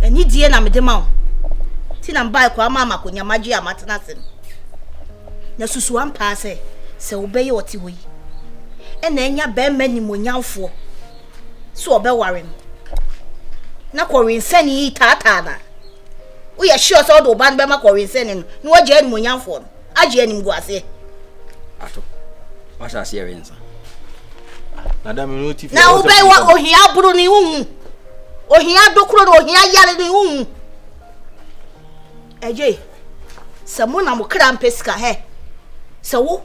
anidie na mede ma wo nti na mbae kɔ ama amakonya magye a matena ase no na susu ampaa sɛ sɛ wobɛyɛ ɔte hɔ yi ɛna anya bɛrima nimonyamfoɔ sɛ ɔbɛware no na kɔwensɛne yi taataa no a woyɛ sure sɛ wode wo ba no bɛma kɔwensɛne no na wagye animonyamfoɔ no agye animguaseɛ ato wahyɛ aseɛ wensa na wobɛwa ohia aboro no wohu ohia dokoro no ohia yare no wohu Eye sɛ mo na mo kra mpɛ sika hɛ, sɛ wo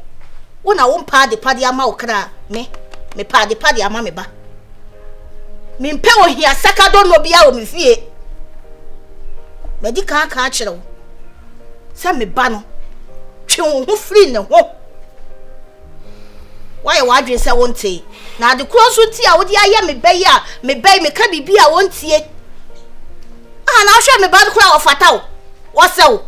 wo na wompɛ adepa de ama wo kra a, me, mepɛ adepa de ama me ba. Mempɛ ohia sakadonnɔ biara wɔ me fie. Madi kan aka akyerɛ wo sɛ me ba no, twe wo ho firi ne ho. Woayɛ w'adwene sɛ wonte. Na ade korɔ nso nti a wode ayɛ me bɛ yi a me bɛ yi meka biribi a wɔntie. Aha na ahwɛ me ba no koraa wɔfata wo. Wɔsɛ wo.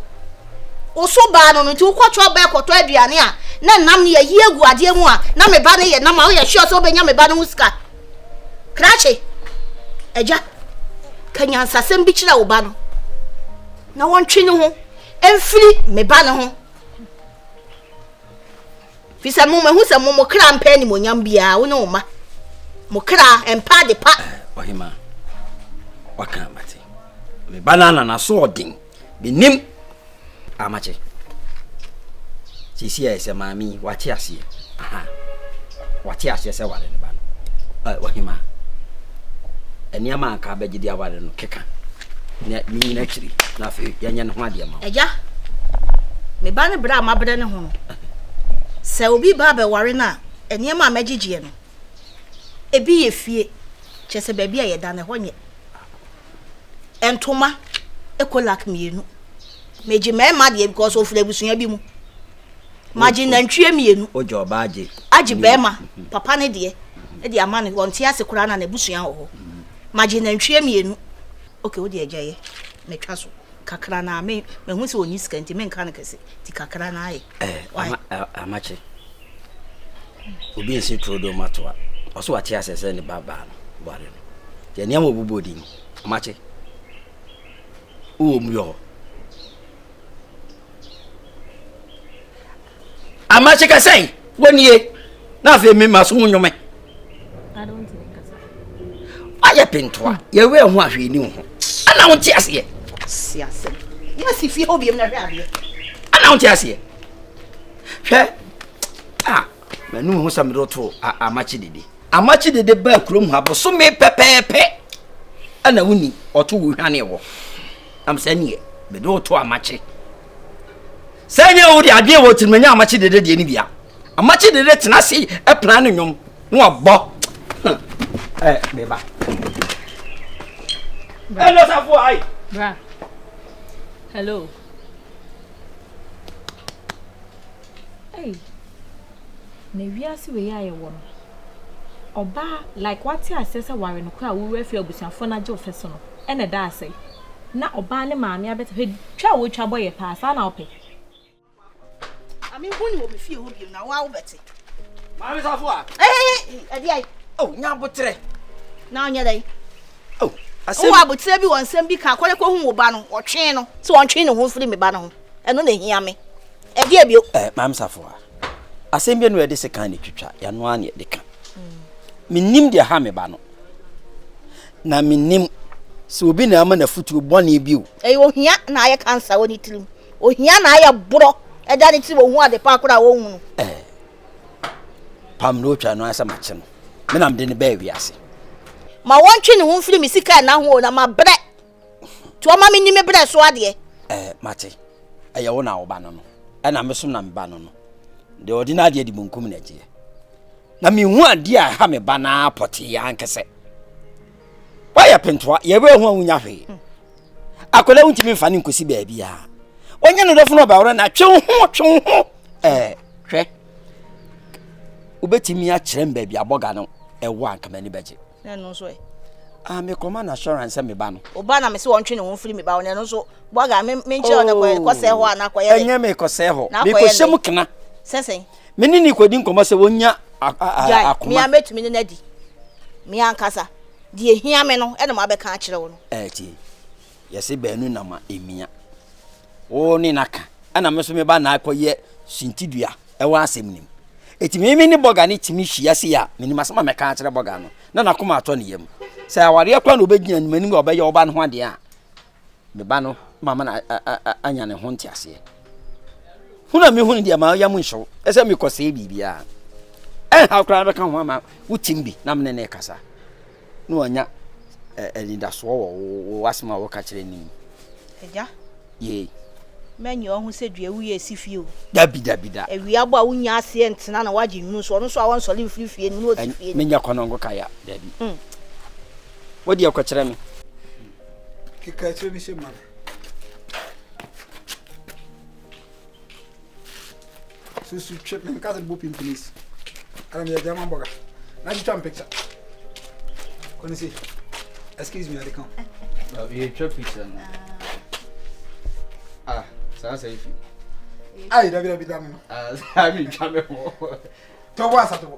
Wo so baa no no nti wokɔ trɔ bɛɛ kɔtɔ aduane a na nam no yɛyi agu adeɛ mu a na me ba no yɛ nam a woyɛ sure sɛ wobɛnya me ba no ho sika. Krakye. Agya. Ka nyansasɛm bi kyerɛ wo ba no na wɔntwe ne ho mfiri me ba no ho. Fi sɛ mo mahu sɛ mo mo kra mpɛ animonyam biara, wo ne wo mma. Mo kra mpa ade pa. Ɔhema, waka amate. Me ba na na so ɔden. Menim amakye. Sisi a ɛsɛ maame wate aseɛ. Aha. Wate aseɛ sɛ ware ne ba no. Ɔhema, nneɛma anka abɛgye de aware no keka. na menyi no akyiri na afei yɛnyɛ ne ho adeɛ ma agya me ba no berɛ a mabrɛ ne ho no sɛ obi ba bɛware no a nneɛma a magyegyeɛ no ebi yɛ fie kyɛ sɛ baabi a yɛda no ɛhɔ nyɛ ntoma ekolak mmienu megye mmarima deɛ because ɔfiri abusua bi mu magye nantwie mmienu. Ogye ɔbaa agye. Agye bɛrima, mhm. papa ne deɛ, mhm. de ama no, ɔnte ase koraa na n'abusua wɔ hɔ. Mhm. Magye nantwie mmienu. Ok, wo deɛ agya yɛ, metwa so. Kakra na me, mehu sɛ ɔni sika nti menka no kɛse, nti kakra na ayɛ. Eh, ama, eh, amakye. Obi nsi turo do ma toa. Ɔso wate asɛ sɛ ne ba baa no, ware no. Deɛ nneɛma ɔbobɔ di no, amakye. Wowɔ mu yɔ hɔ. Amakye ka sɛ, Wo nie, na afei me ma so mu nnwome. Ayɛ pentoa, yɛwɛ ho ahwɛ ni ho. Ana wo nte aseɛ? Si asɛm. Yɛ si fie hɔ biem na hwɛ adeɛ. Ana wo nte aseɛ? Hwɛ, a, m'anum ho sɛ mede woto amakye dede. Amakye dede baa kurom ha bosome pɛpɛɛpɛ. Ana wo ni, ɔto wo hwane wɔ. Nam sɛ neɛ mede wo to amakye. Sɛ nyɛ wo de adeɛ wɔ tirim nyɛ amakye dede deɛ ne bia. Amakye dede tena ase ɛpena ne nnwom na wabɔ. Ɛ beba. Hello safo ai. Bra. Hello. Hey. Na wiase wei a yɛwɔ no, ɔbaa like wate aseɛ sɛ ware no koraa a wowerɛ afiri abusuafoɔ no agye wo fɛ so no na ɛda ase na ɔbaa ne maame abɛte hwɛ twa a wotwa bɔ yɛ paa saa na wopɛ. Maame nko ne wɔ me fie hɔ biom na woa wobɛte. Maame safo a. Ɛhɛhɛ ɛde ayi. Oh nya abotrɛ. Na ɔnyɛ dɛ. Oh asɛm. Wo abotrɛ bi wɔ nsɛm bi ka kɔlɛ kɔ hu wo ba no ɔtwe no sɛ ɔntwe ne ho mfiri me ba no ho ɛno na ehia me. Ɛdeɛn bio? Eh, Maame Safoa, asɛm bi no yɛde sekan na ɛtwitwa, yɛano ara na yɛde ka. Mennim deɛ ha me ba no, na mennim sɛ obi na ama n'afutuo bɔne bio. Ɛyɛ ohia na ayɛ kansa wɔ ne tirim. Ohia na ayɛ borɔ ɛda ne tirim ɔhu ade pa koraa ɔnhu no. Eh, pam na ɔtwa no asɛ makye no. Me na mede no bɛɛ wiase. Ma wɔntwe ne ho mfiri me sika nna ho o, na mabrɛ. Nti ɔma me ni me berɛ so adeɛ. Ɛɛ, mate. Ɛyɛ wo na wo ba no no. Ɛna me so na me ba no no. Deɛ ɔde n'adeɛ di munkum na agyeɛ. Na mehu adeɛ a ɛha me ba no ara pɔtee ankɛsɛ. Woayɛ pentoa, yɛbɛɛ ho a wonya hwee. Akwadaa wontumi mfa ne nkɔsi baabi a. Wɔnyɛ no dɔfo no ɔbɛworɛ na twe wo ho, twe wo ho. Ɛɛ, hwɛ. Wobɛtumi akyerɛ me baabi abɔga no ɛwɔ anka m'ani bɛgye. Na ɛno nso ɛ? Ah, me kɔma na assurance sɛ me ba no. O ba na me se wɔn twe ne ho mfiri me ba wɔn ɛno nso bɔga me me nkyerɛ ɔna kɔ kɔ sɛ hɔ a na kɔyɛ. Ɛnyɛ me kɔ sɛ hɔ. Me kɔ hyɛ mu kena. Sɛsɛn. Me ne ne kɔ di nkɔmɔ sɛ wɔn nya akoma. Me a mɛtumi ne n'adi. Me ankasa. Deɛ hia me no ɛna mo abɛka akyerɛ wo no. Ɛti. Yɛse baanu na ma ɛmia. Wo ne no aka, ɛna me nso meba na akɔyɛ suntidua ɛwɔ asɛm no mu. Enti me me ne bɔga no tumi hyia sei a, menim asɛm a mɛka akyerɛ bɔga no, na n'akoma atɔ ne yam. Sɛ awareɛ kora na ɔbɛgyina no m'anim a ɔbɛyɛ wo ba no ho adeɛ a, me ba no mama no anya ne ho nteaseɛ. Hunu a mehunu deɛ ma yam nhyew, ɛsɛ mekɔsɛe biribiara. Ɛnhaw koraa bɛka ho ama wo tim bi na mene ne kasa. na wɔanya ɛ anidasoɔ wɔ wo wo w'asɛm a woka kyerɛ no mu. Agya. Yei. Mɛ nyɛ ɔho sɛ dua awu yɛ ɛsi fie o. Dabi dabi da. Awia bɔ a wo nnya aseɛ ntena na woagye nwunu so, ɔno nso a ɔnsɔre mfiri fie no na ɔsi fie no. Me nyɛ kɔnɔngo ka ya dabi. Mm. Wo deɛ kɔkyerɛ me. Keka akyire no hyɛ ma me. susu twɛ me nka sɛ bɔ pin please ɛna meyɛ gyama bɔga na twitwa me picture kɔne se excuse me ade ka yɛtwa picture no ah saa sɛ ifi ai dabi dabi da me no ah, saa metwa me ho tɔbɔ asa tɔbɔ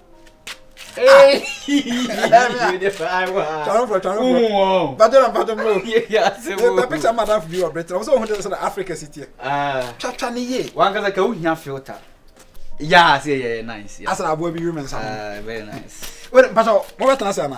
picture madam bi wɔ britain ɔmo sɛ ohun de sɛ na africa si tiɛ twatwa ne yie wankasa ka ohia filter yaa sɛ yɛ nice asana aboa bi yuru mɛ nsa ho very nice wɛrɛ mpasa mo bɛ tena se ana.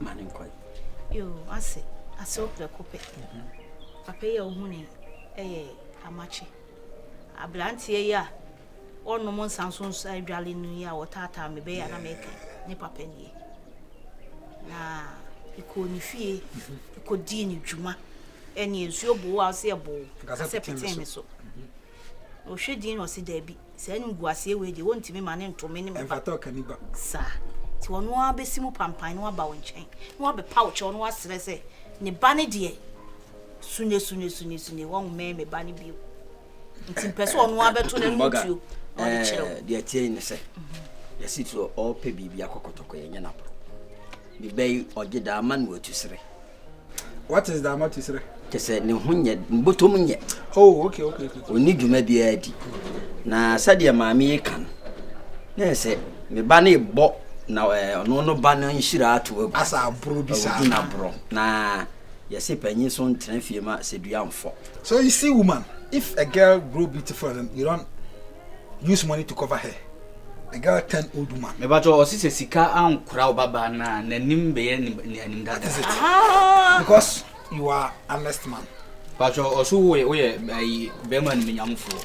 ma ne nkɔ ase asew prɛko pɛ papa yi a wohu ne yɛ amakye aberanteɛ yi a ɔnom nsa nso nso adwale no yi a wɔtaataa me bɛyɛ na mɛka ne papa nie na ɛkɔɔ ne fie ɛkɔdii ne dwuma ɛne nsuo boo a ɔsɛ ɛboo kasɛ petee me so Ɔhwɛ din na ɔse daabi, saa animguaseɛ wei deɛ wɔntumi ma no nto me ne me ba saa. Nti ɔno ara bɛsi mu pampan na waba wo nkyɛn na wabɛpa wo kyɛw na wasrɛ sɛ ne ba no deɛ sune sune sune sune wɔmmɛn me ba no bio. Nti mpɛ sɛ ɔno ara bɛto n'ano ntuo na ɔde kyerɛ wo. Deɛ ɛteɛ yi ne sɛ yɛsi so ɔrepɛ biribi akɔkɔtɔkɔ yɛnyɛ no aboro. Ne bɛ yi ɔgye daa ma no atusere. What is Daamatusrɛ? Kyɛ sɛ ne ho nyɛ botom nyɛ. Oh, okay, okay, okay. Ɔnni dwuma biara di. Na sɛdeɛ maame yi ka no, na ɛsɛ me ba no rebɔ na ɔno no ba no nhyira ato agu. Asa aboro bi saa. Ɔgu n'aborɔ. Na yɛse panyin so ntena fie ma sɛ dua mfɔ. So you see woman, if a girl grow beautiful and you don't use money to cover her the girl turn old woman. meba to ɔsi sɛ sika ankora ɔbaba na n'anim bɛyɛ ne anim dada. that is it ah! because you are honest man. patro ɔso wo yɛ ayi bɛrima no menyamfoɔ.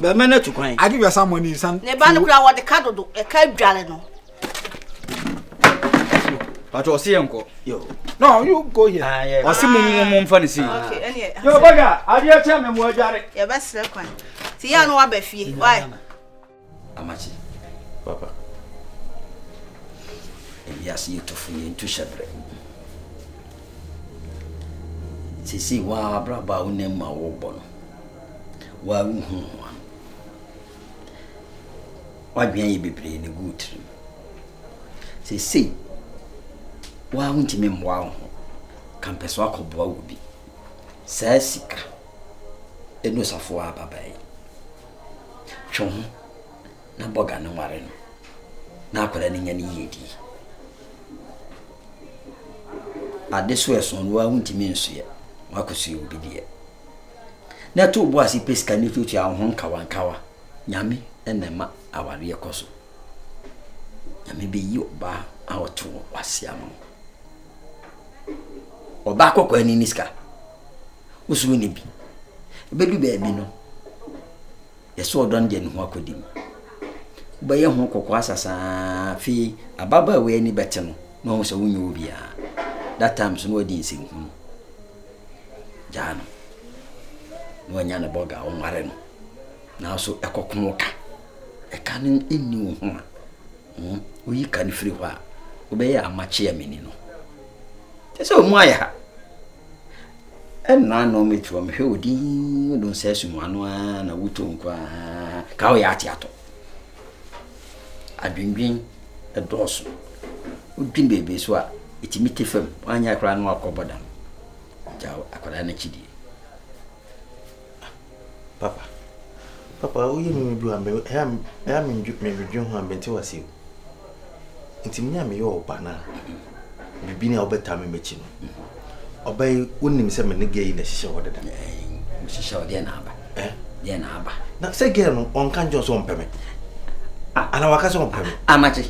Bɛma no atu kwan. Ade wiasa mmɔ ne nsan. Ne ba no kura wɔde ka dodo ɛka dware no. Pato ɔsi yɛ nkɔ. Yo. No, you go here. Ah, yeah. Ɔsi mu mu mu nfa ne si. Ah, okay, ɛni yɛ. Yo baga, adeɛ kyɛ mɛ mu adware. Yɛ bɛ srɛ kwan. Ti yɛ anu wa bɛ fie. Why? Amakye, papa. Ewiase yi tufo, yɛntu hyɛbrɛ. Sisi wo ara abrabɔ a wonam mu a worebɔ no, wo ara wohu ho ano. Woadwene ayɛ bebree na egu tirim. Sisi wo ara wontumi mmoa wo ho, ka mpɛ so akɔboa wo bi. Saa sika ɛnu safoa ababaa yi. Twe wo ho na bɔ dwane nware no na akwadaa no nya ne yiyedi. Ade so ɛso no ara wontumi nsoɛ, woakɔsoɛ obi deɛ. Na ɛto wo bo ase pɛ sika no tuatua wo ho nkawankawa. Nyame na ɛma awareɛ kɔ so. Nyame bɛyi ɔbaa a ɔte wo w'ase ama wo. Ɔbaa kɔkɔɔ ani ne sika. Wo so wonni bi. Ebedu baabi no, yɛsɛ ɔdɔ no de ne ho akodi mu. Wobɛyɛ ho kɔkɔɔ asa saa afei ababaawa yi ani bɛte no na ɔhu sɛ wonyɛ obiara. That time so na wadi nsɛnhunu. Gyaa no. Na wanya ne bɔga a ɔnware no. Nanso ɛkɔko wo ka. Ɛka no nni wo ho a. Woyi ka no firi hɔ a, wobɛyɛ amakye a menni no. Kyɛ sɛ wɔn ayɛ ha. Ɛnna na wɔatu wɔn hwɛ wɔ din wodon sɛ asum wɔn ano ara na woto nko ara ka wɔyɛ ate atɔ. Adwendwen ɛdɔɔso. Wodwin beebi so a, ɛtumi te fam. Wɔanyɛ koraa na wakɔ bɔdam. Gya akwadaa no akyi die. Papa, papa woyɛ me bi a me ɛyɛ ɛyɛ me ndwe me dwen ho a me nte wase o. Nti me a me yɛ ɔba na bibi na ɔbɛta me mɛkyi no. Ɔba yi wonim sɛ me ne gɛ yi na hyehyɛ hɔ deda. Hyehyɛ hɔ deɛ na aba. Eh? Deɛ na aba. Na sɛ gɛ no ɔnka nkyɛn sɛ ɔmpɛ me. Ana waka sɛ ɔmpɛ me. Amakye.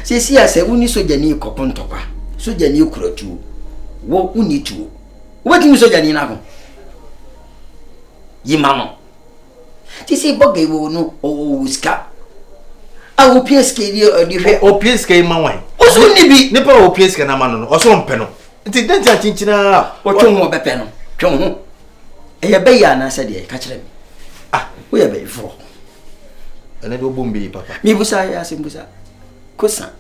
Sɛ si a sɛ woni sogyani kɔko ntɔkwa, sogyani kura tuo. Wo woni tuo. Wobɛtumi sogyani no ako yi ma no. Te sɛ bɔga yi wɔ no ɔwɔ sika a wopia sika yi ɔde hwɛ. Opia sika yi ma wan? Ɔso nni bi. Nipa a opia sika no ama no no ɔso mpɛ no. Nti dɛn ti akyinkyina a. Ɔtwe ho ɔbɛpɛ no twe ho. Ɛyɛ bɛyɛ anaasɛ deɛ ka kyerɛ me. Ah woyɛ bɛyifoɔ. Ɛnɛ de wobom bɛyi papa. Mebusa yɛ asɛm busa. Kosa.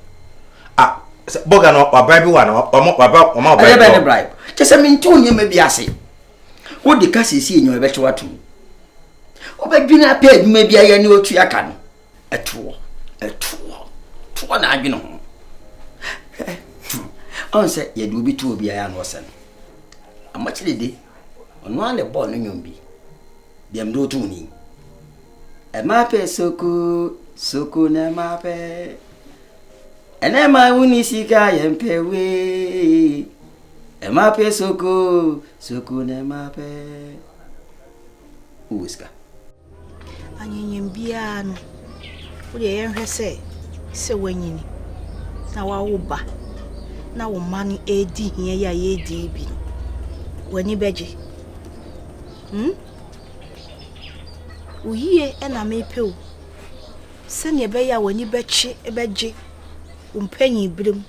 Ah, sɛ bɔga no wabribe wa no ɔmo waba ɔmo abribe. Ɛyɛ bɛ ne bribe. Kyɛ sɛ mente wo nneɛma bi ase. Wode ka siesie nneɛma bɛkyɛ wato mu. Wobɛdwene apɛ adwuma bi ayɛ ne otua ka no. Ɛtoɔ, ɛtoɔ, toɔ na adwene ho. Ɔn sɛ yɛde obi to obi ayɛ na ɔsɛ no. Amakyere de, ɔno a na ɛbɔɔ no nnwom bi. Deɛ mede woto ni. Ɛma pɛ soko, soko na ɛma pɛ. Ɛnɛ ma wo ni sika yɛ mpɛ wee. Ɛma pɛ soko, soko na ɛma pɛ. Wowɔ sika. Anyanyam biara no, wodeɛ yɛnhwɛ sɛ sɛ woanyini na wawo ba na wo mma no ɛredi hia yi a yɛredi yi bi no, w'ani bɛgye. Hmm? Wo yie na mepɛ o. Sɛnea ɛbɛyɛ a w'ani bɛkye bɛgye wo mpanyin bere mu.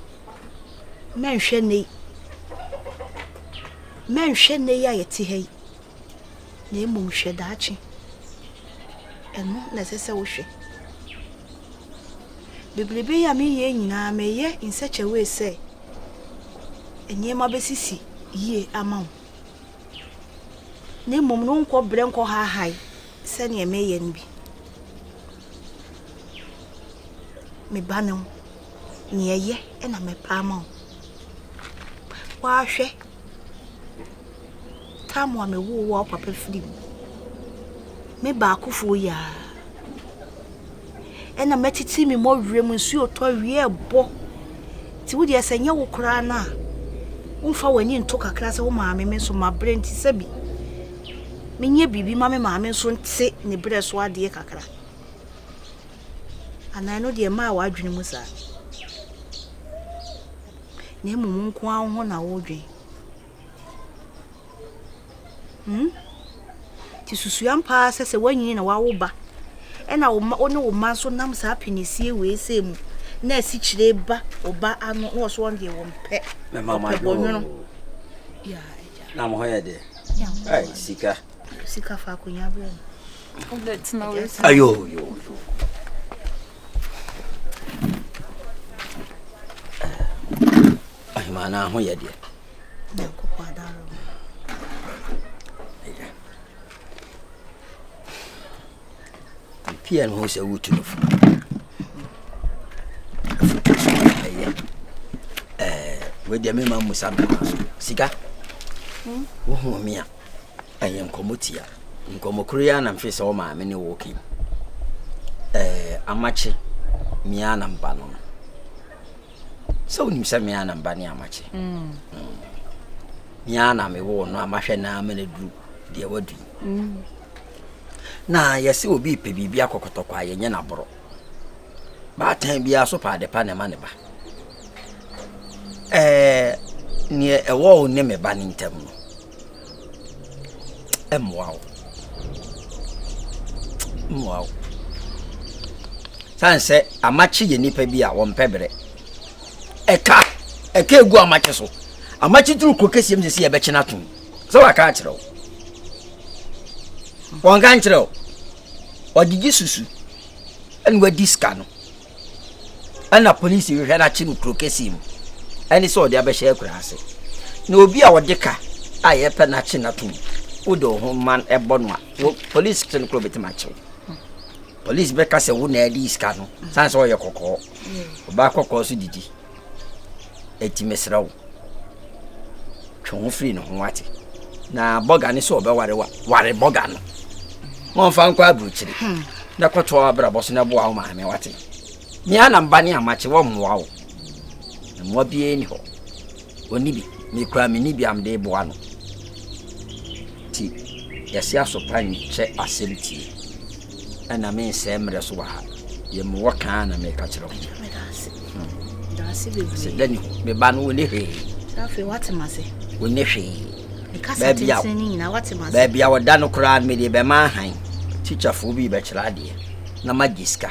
Mɛnhwɛ nnɛ yi. Mɛnhwɛ nnɛ yi a yɛte ha yi, na mmom hwɛ daakye. Ɛno na ɛsɛ sɛ wohwɛ. Bebrebe yi a mereyɛ nyinaa, mereyɛ in such a way sɛ nneɛma bɛsisi yie ama wo. Na mmom no wonkɔ brɛ nkɔ haahae. Sɛdeɛ meyɛ no bi. Me ba no, neɛ ɛyɛ na mɛpa ama wo. Woahwɛ tam a mewoo wo a wo papa firi mu. Me baakofoɔ yi ara. ɛna mɛtete me mɔ wiem nsuo tɔ wie ɛbɔ nti wo deɛ sɛ nyɛ wo koraa no a womfa w'ani nto kakra sɛ wo maame me nso mabrɛ nti sɛ bi menyɛ biribi ma me maame nso nte ne berɛ so adeɛ kakra anaa ɛno deɛ maa w'adwene mu saa na mmom nko ara ho na wodwen Hmm? Nti susua mpaa sɛ sɛ woanyin na wawo ba ɛna wo ma wo ne wo ma nso nam saa penisie wei sɛ mu na asi kyerɛ ba wo ba ano na wɔso wɔn deɛ wɔn pɛ ɔpɛ bɔnwono na mo hɔ yɛ deɛ ai sika sika fa akonya berɛ no ayo yo yo Ɔhemaa no ho yɛ deɛ. Nyankopɔn adaro. Pia no ho sɛ wotu no fo. Afutu so ɛyɛ. Ɛɛ, wɔde me ma musa bɛma so. Sika. Hmm? Wohu me a, ɛyɛ nkɔmmɔ tia. Nkɔmmɔ koro yi anam hwɛ sɛ wo maame ne wo kɛn. Ɛɛ, amakye, mia na mba no no. sɛ wonim sɛ me ara na mba ne amakye me ara na mewoo no a mahwɛ no ara ma no aduru deɛ wadu yi na yɛse obi pɛ biribi akɔkɔtɔkɔ a yɛnyɛ no aborɔ baatan biara so pa adepa na ɛma ne ba ɛɛ neɛ ɛwɔ wo ne me ba ne ntam no ɛmmoa wo mmoa wo sane sɛ amakye yɛ nnipa bi a wɔmpɛ berɛ ɛka ɛka egu amakye so amakye duru kuro kɛseɛ mu sɛ sɛ yɛbɛkye no ato mu sɛ waka akyerɛ wo wɔnka nkyerɛ wo ɔgyegye susu ɛne wadi sika no ɛna polisi hwehwɛ no akye no kuro kɛseɛ mu ɛne sɛ ɔde abɛhyɛ akura ase na obi a ɔde ka a yɛpɛ no akye no atom wode wo ho man ɛbɔ no a polisi kye no kuro bɛtumi akyew polisi bɛka sɛ wo na adi sika no sane sɛ ɔyɛ kɔkɔɔ ɔbaa kɔkɔɔ so didi Enti mesrɛ wo, twe wo ho firi ne ho wate. Na bɔga ne sɛ ɔbɛware wa, ware bɔga no. Wɔmfa nkɔ aburokyiri. Hmm. Na kɔtɔ abrabɔ so na boa wo maame wate. Mia na mba ne amakye wɔ mmoa wo. Mmoa biara ni hɔ. Ɔni bi, mekura me ni bi am de boa no. Ti, yɛse asopa nkyɛ asɛm tie. Ɛna mensɛe mmerɛ so wɔ ha. Yɛ mewɔ kaa na meka kyerɛ wo. Medase. Hmm. Medase bebree. Sɛ dani hɔ. Me ba no wo ne hwee. Sɛ afei wate ma se. Wo ne hwee. Mekasa tenten ne nyina wate ma se. Baabi a wɔda no koraa no mede bɛma ahan. Tikyafoɔ bi bɛkyerɛ adeɛ na magye sika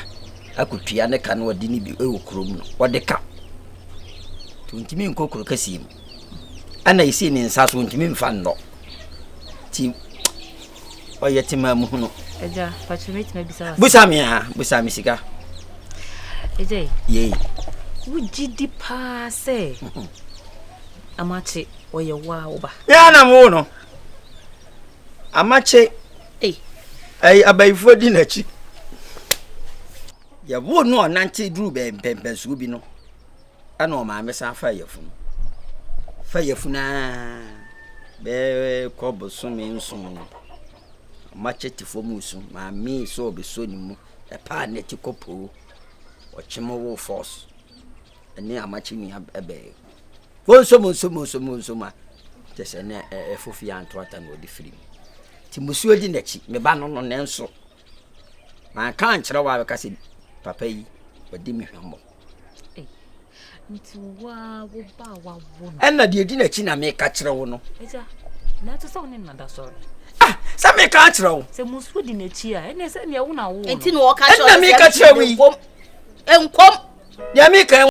akɔtua ne ka no ɔde ne bi wɔ kurom no ɔde ka nti ɔntumi nkɔ kuro kɛseɛ mu ɛna ɛsii ne nsa so ɔntumi mfa nnɔ nti ɔyɛ tema mu hunu. ɛgya pàtó mi tìmɛ bisa wa. busa mi ha busa mi sika. ɛgya yi. yei. wogye di paa sɛ amakye ɔyɛ waa wo ba. yɛn na mo wo no amakye ɛyi abayifoɔ di n'akyi yɛwo no ɔnante duru bɛn pɛmpɛnsuo bi no. Ɛna ɔmaa me san faa yafunu. Fa yafunu aa bɛɛ kɔ bosome nson no. Machete fo mu so maa me sɛ ɔbɛsɔ ne mu. Ɛpaa ne ti kɔ poo. Ɔkye mo wo force. Ɛne amakye nua ɛbɛɛ. Monso monso monso monso ma. Kyɛ sɛ ne ɛfo fie anto ata na ɔde firi mu. Ti musuo di n'akyi. Me ba no no nanso. Manka ankyerɛ wo a bɛka sɛ papa yi ɔdi me hwammɔ. Nti wo a wo ba a wawo no. Ɛna deɛ ɛdi n'akyi na meka kyerɛ wo no. Agya, na ɛte sɛ wo ne nada sɔre. Ah, sɛ meka akyerɛ wo. Sɛ musuo di n'akyi a, ɛne sɛ neɛ wo na wo no. Nti na ɔka kyerɛ wo sɛ meka kyerɛ wo yi. Nkom. Deɛ meka